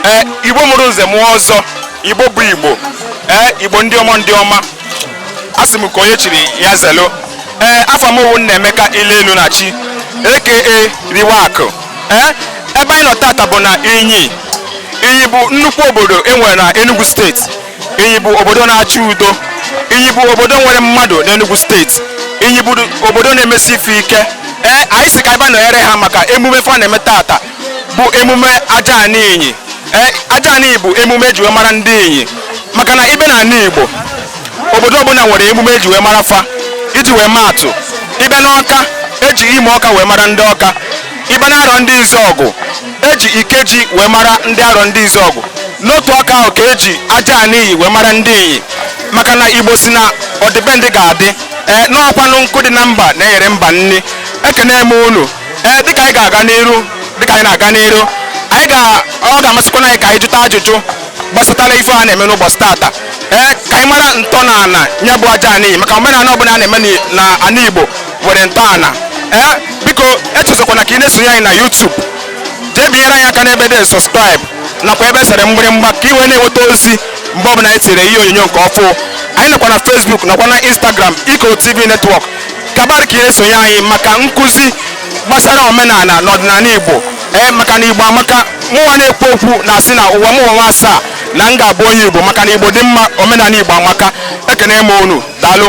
ee eh, igbo mụrụ nze mụọ ọzọ igbo bụ igbo ee eh, igbo ndị ọma ndị ọma a sị m ka onye chiri ya zelo ee eh, afa m wụ Nnaemeka ile elu na chi aka riwa akụ ee ebe anyị nọ tata bụ na inyi inyi bụ nnukwu obodo enwere na Enugu steeti Inyi bụ obodo na-achị udo Inyi bụ obodo nwere mmadụ n'Enugu steeti Inyi bụ obodo na-emesi ife ike ee anyị si ka anyị bịa nọnyere ha maka emume fa na-eme tata bụ emume aja anị inyi ee aja anị bụ emume eji wee mara ndị inyi maka na ị bịa na anị Igbo obodo ọbụla nwere emume eji wee mara fa iji wee maa atụ ị bịa n'ọka eji imo ọka wee mara ndị ọka ị bịa na Arọndizuọgụ eji ikeji wee mara ndị Arọndizuọgụ n'otu aka ahụ ka eji aja anị inyi wee mara ndị inyi maka na igbo si na ọdịbendị ga-adị ee n'ọkwanụ nkụ dị na mba na-eyere mba nni ekene m unu ee dịka anyị ga-aga n'iru dịka anyị na-aga n'iru anyị ga ọ ga-amasịkwana anyị ka anyị jụta ajụjụ gbasatara ife a na-eme n'ụbọchị tata ee ka anyị mara ntọala ya bụ aja anị inyi maka omenala ọbụla a na-eme na ana igbo nwere ntọala ee eh, biko echezọkwana ka ị na-esonye anyị na YouTube jee binyere anyị aka n'ebe dị subscribe nakwa ebe e sere mgbịrịmgba ka ị wee na-enweta ozi mgbe ọbụla anyị tinyere ihe onyonyo nke ọfụ anyị nọkwa na Facebook nakwa na Instagram Ikoro TV Network kabar ka ị na-esonye anyị maka nkụzi gbasara omenala na ọdịnala Igbo ee eh, maka na Igbo amaka mụnwa na-ekwu okwu na-asị na ụwa m ụwa asaa na m ga-abụ onye Igbo maka na Igbo dị mma omenala Igbo amaka ekene m unu daalụ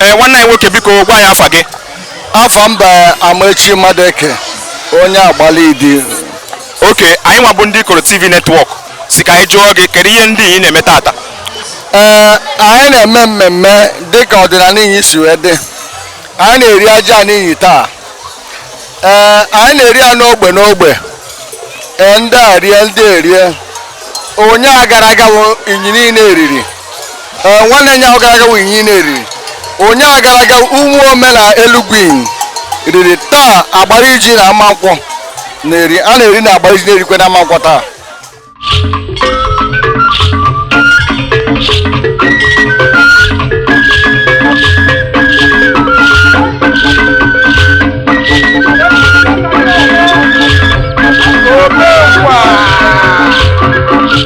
ee nwanne anyị nwoke biko gwa anyị afa gị afa m bụ Amaechi Madụeke onye Agbalidi oke anyị nwa bụ ndị ikoro tv netwọk si ka anyị jụọ gị kedu ihe ndị inyi na-eme tata ee anyị na-eme mmemme dịka ọdịnanị inyi si wee dị anyị na-eri aja anị inyi taa ee anyị na-eri ya n'ogbe n'ogbe ee ndị a rie ndị erie ụnyaa gara aga bụ inyi niile eriri ee nwanne ụnyaa gara aga wụ inyi na-eri ụnyaahụ gara aga Ụmụome na Elugwu inyi riri taa Agbariji na Amankwọ na-eri a na-eri na Agbariji na-erikwe na Amankwọ taa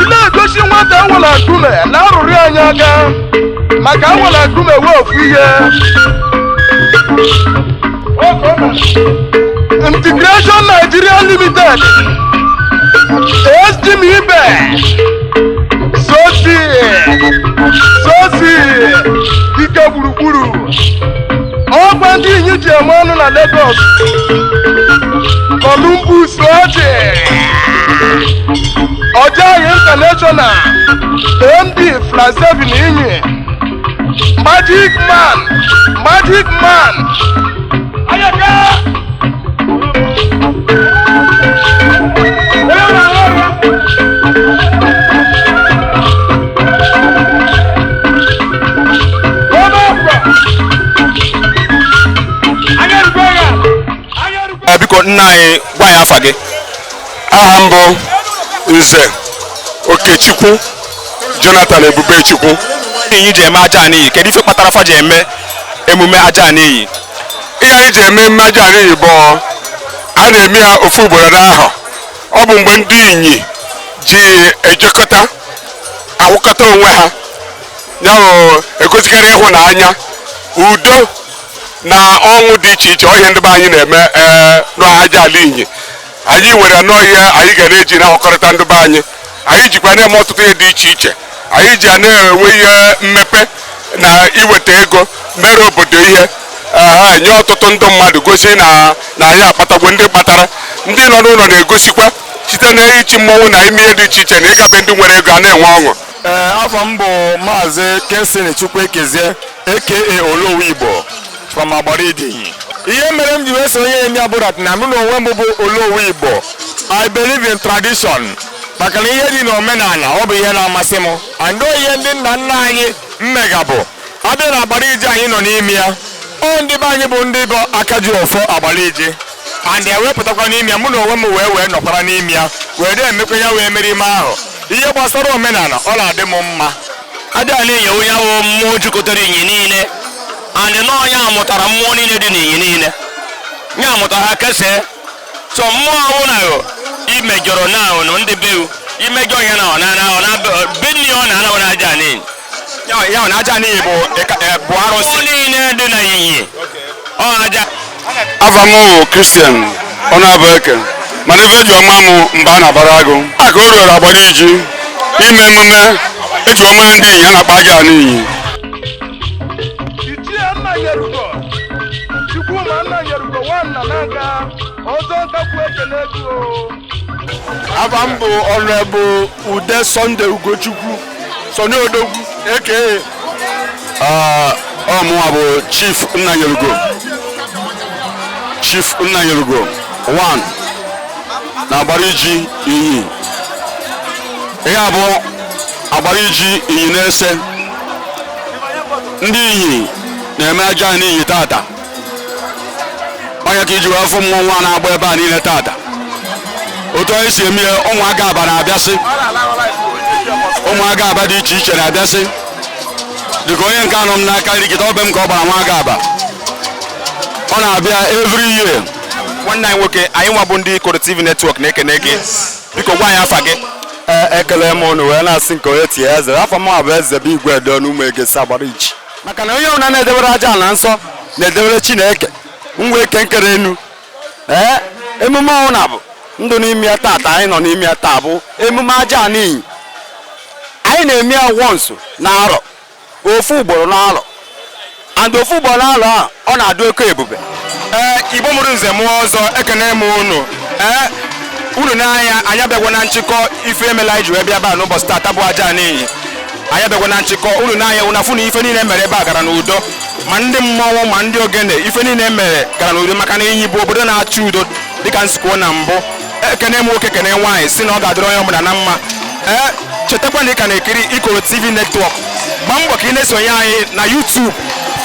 ị na-egosi nwata anwụla nkume na arụrị anyị aka maka anwụla nkume wee ofu ihe integration nigeria limited estim ibe sosi sosi ike gburugburu ọgba ndị inyi ji eme ọnụ na Lagos Columbus ọjị ojayi international md fransevin inyi magic man magic man Eh, biko nna anyị gwa anyị afa gị aha m bụ nze okechukwu jonathan ebubechukwu inyi ji eme ajana inyi kedu ife kpatara fa ji eme emume ajana inyi ihe anyị ji eme emume ajana inyi bụ a na-eme ya ofu ugboro n'ahọ ọ bụ mgbe ndị inyi ji ejekọta awụkọta onwe ha ya bụ egosikara ịhụnanya udo na ọṅụ dị iche iche ọ ihe ndị be anyị na-eme ee n'aja ala inyi anyị nwere nnọọ ihe anyị ga na-eji na-ahụkọrịta ndị be anyị anyị jikwa na-eme ọtụtụ ihe dị iche iche anyị ji a na-enwe ihe mmepe na iweta ego mere obodo ihe ee nye ọtụtụ ndị mmadụ gosi na na anyị akpatagwo ndị kpatara ndị nọ n'ụlọ na-egosikwa site na ichi mmọnwụ na ime ihe dị iche iche na ịga be ndị nwere ego a na-enwe ọṅụ ee afa m bụ maazị Kensington Chukwuekezie aka Olowu Igbo from Agbariji Inyi ihe mere m ji wee sonye n'ime ya bụ that na mụ na onwe m bụ Olowu Igbo I believe in tradition maka na ihe dị n'omenala ọ bụ ihe na-amasị m and ọ ihe ndị nna nna anyị megabu a bịa na Agbariji anyị nọ n'ime ya ọ ndị be anyị bụ ndị bụ aka ji ọfọ Agbariji and ya wee pụtakwa n'ime ya mụ na onwe m wee wee nọkwara n'ime ya wee na-emekwa ya wee mere ime ahụ ihe gbasara omenala ọ na-adị m mma ajana inyi ọ ya wụ mmụọ jikọtara inyi niile and na ọ ya mụtara mmụọ niile dị n'inyi niile na ya mụtara ha kesee so mmụọ ahụ na ahụ imejọrọ na ahụ na ndị be imejọ ya na ọ na na ọ na be nne ya ọ na-anahụ na ajana inyi ya na Ajana Inyi bụ eh, bụ arụsị niile dị na Inyi ọ aja afa m bụ Christian Onyebueke mana ife eji ọma mụ mgbe a na-abara agụ aka o ruoro Agbariji ime emume eji ọma ndị Inyi a na-akpọ Ajana Inyi afa m bụ Honorable Ude Sunday Ugochukwu Sunny Odogwu aka ọ mụnwa bụ Chief Nnanyelugo Chief Nnanyelugo 1 na Agbariji Inyi ihe a bụ Agbariji Inyi nese ndị Inyi na-eme Ajana Inyi tata ọ nya ka iji wee fụ mmọnwụ a na-agba ebe a niile tata otu anyị si eme ụmụaka aba na-abịasị ụmụaka aba dị iche iche na-abịasị dịka onye nke a nọ m n'aka nri kịta ọ be m ka ọ gbara nwa aba ọ na-abịa every year nwanne anyị nwoke anyị nwa bụ ndị Ikoro TV Network na-ekene gị biko gwa anyị afa gị e, ekele m unu wee na-asị nke onye tie eze afa m bụ eze bụ igwe edo n'ụmụ egesi Agbariji maka na onye ọbụla na-edebere Ajana nsọ na-edebere chineke nwe ike nkere enu ee emume ọnwụ na bụ ndụ n'ime ya taata anyị nọ n'ime ya taa bụ emume Ajana Inyi anyị na-eme ya once na arọ ofu ugboro na arọ and ofu ugboro na arọ a ọ na-adị oke ebube ee igbo mụrụ nze mụọ ọzọ ekene m unu ee unu n'anya anyị abịagwa na nchịkọ ife mere eji wee bịa ebe a n'ụbọchị taata bụ Ajana Inyi anyị abịagwa na nchịkọ unu n'anya unu afụ na ife niile mere ebe a gara n'udo ma ndị mmọnwụ ma ndị ogene ife niile mere gara n'udo maka na Inyi bụ obodo na-achọ udo dịka m si kwuo na mbụ ekene m nwoke kene nwaanyị sị na ọ ga-adịrị onye ọbụla na mma ee chetakwa na ị ka na-ekiri ikoro tv Network gbaa mbọ ka ị na-esonye anyị na youtube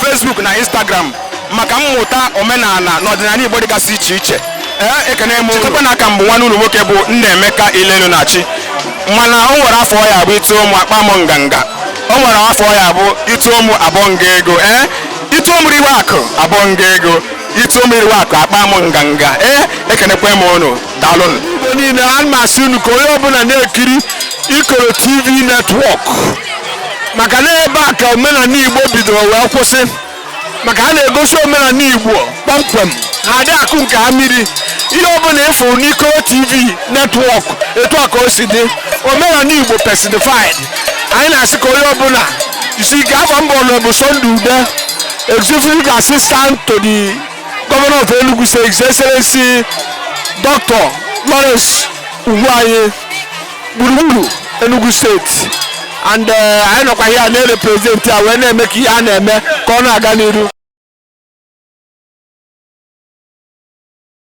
facebook na instagram maka mmụta omenala na ọdịnala Igbo dịgasị iche iche ee ekene m chetakwa na aka m bụ nwanne unu nwoke bụ Nnaemeka Ilenunachi mana o nwere afọ ya abụ ituo mụ akpa m nganga o nwere afọ ya abụ ituo mụ abụọ nga ego ee ituo m riwe akụ abụọ nga ego ituo m riwe akụ akpa m nganga ee ekenekwa m unu daalụnụ Igbo niile a na-asị unu ka onye ọbụla na-ekiri Ikoro TV Network maka na ebe a ka omenala Igbo bidoro wee kwụsị maka a na-egosi omenala Igbo kpọmkwem ha adị akụ nke ha mmiri ihe ọbụla ịfụrụ n'Ikoro TV Network etu a ka o si dị omenala Igbo personified anyị na-asị ka onye ọbụla jisi ike afa m bụ Honorable Sunday Ude executive assistant to the governor of Enugu State His Excellency Dr. Lawrence Ugwuanyi gburugburu Enugu State and eh, anyị nọkwa here na-erepresent ya wee na-eme ka ihe a na-eme ka ọ na-aga n'iru